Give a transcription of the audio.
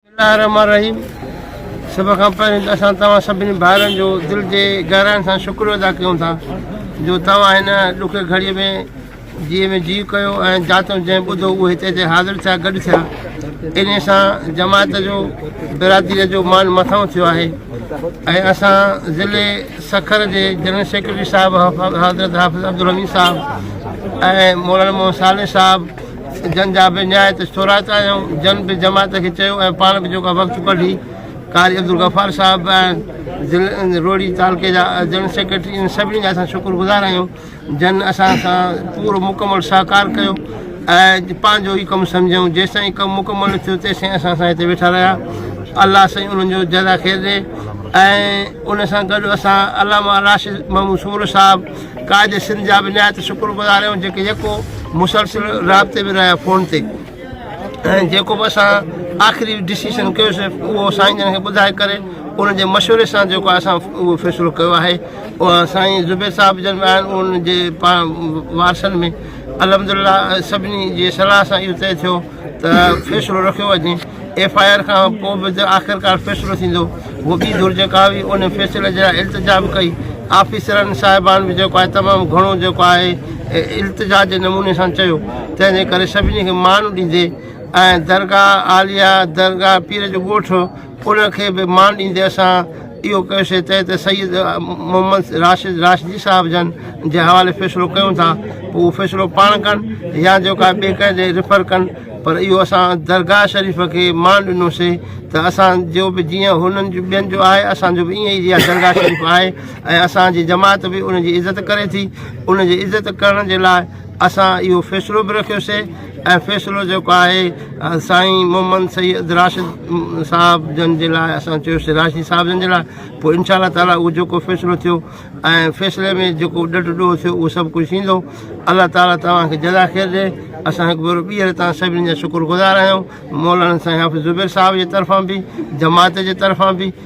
بسم الله الرحمٰن الرحيم سڀ کان پهرين ته اسان توهان سڀني ڀائرن جو دل جي گهراين سان شڪريو ادا ڪيون ٿا جو توهان هن ڏکي گهڙيء ۾ جيء ۾ جيء ڪيو ۽ جاتو جنهن ٻڌو اهو هتي اچي حاضر ٿيا گڏ ٿيا انهي سان جماعت جو برادريء جو مان مٿانهون ٿيو آهي ۽ اسان ضلعي سکر جي جنرل سيڪريٽري صاحب حضرت حافظ عبدالحميد صاحب ۽ مولانا محمد صالح صاحب جن جا به نهايت ٿورائتا آهيون، جن به جماعت کي چيو ۽ پاڻ به جيڪا وقت ڪڍي، قاري عبدالغفار صاحب به آهن، ضلعي روهڙي تعلقي جا جنرل سيڪريٽري، انهن سڀني جا اسان شڪر گذار آهيون، جن اسان سان پورو مڪمل سهڪار ڪيو ۽ پنهنجو ئي ڪم سمجهيائون، جيستائين ڪم مڪمل نه ٿيو تيستائين اسان سان هتي ويٺا رهيا، الله سائين انهن جو جزا خير ڏي ۽ ان سان گڏ اسان علامه راشد محمود سومرو صاحب، قائد سنڌ جا به نهايت شڪر گذار آهيون جيڪي يڪو مسلسل رابطي ۾ رهيا فون تي ۽ جيڪو به اسان آخري ڊسيشن ڪيوسي اهو سائين جن کي ٻڌائي ڪري انهن جي مشوري سان جيڪو اسان اهو فيصلو ڪيو آهي اها سائين زبير صاحب جن به آهن انهن جي پاڻ وارثن ۾ الحمد لله سڀني جي صلاح سان اهو طئي ٿيو ته فيصلو رکيو وڃي ايف آء آر کان پوء به آخرڪار فيصلو ٿيندو هو ٻي ڌر جيڪا هئي ان فيصلي جي لاء التجا به ڪئي آفيسرن صاحبان به جيڪو آهي تمام گهڻو جيڪو آهي التجا جي نموني سان چيو تنهن جي ڪري سڀني کي مان ڏيندي ۽ درگاهه عاليه درگاهه پير جو ڳوٺ ان کي به مان ڏيندي اسان اهو ڪيوسين تنهن تي سيد محمد راشد راشدي صاحب جن جي حوالي فيصلو ڪيون ٿا پوء اهو فيصلو پاڻ ڪن يا جو ڪا ٻئي ڪنهن ڏي ريفر ڪن پر اهو اسان درگاهه شريف کي مان ڏنوسي ته اسان جو به جيئن هنن جو ٻين جو آهي اسان جو به ائين ئي جيئن درگاهه شريف آهي ۽ اسان جي جماعت به ان جي عزت ڪري ٿي ان جي عزت ڪرڻ جي لاء اسان اهو فيصلو به رکيوسي ۽ فيصلو جيڪو آهي سائين محمد سيد راشد صاحب جن جي لاء اسان چيوسي راشدي صاحب جن جي لاء پوء انشاء الله تعاليٰ اهو جيڪو فيصلو ٿيو ۽ فيصلي ۾ جيڪو ڏڍ ڏوهه ٿيو اهو سڀ ڪجهه ٿيندو الله تعاليٰ توهان کي جزا خير ڏي اسان هڪ ڀيرو ٻيهر تان سڀني جا شڪر گذار آهيون مولانا سائين حافظ زبير صاحب جي طرفان به جماعت جي طرفان به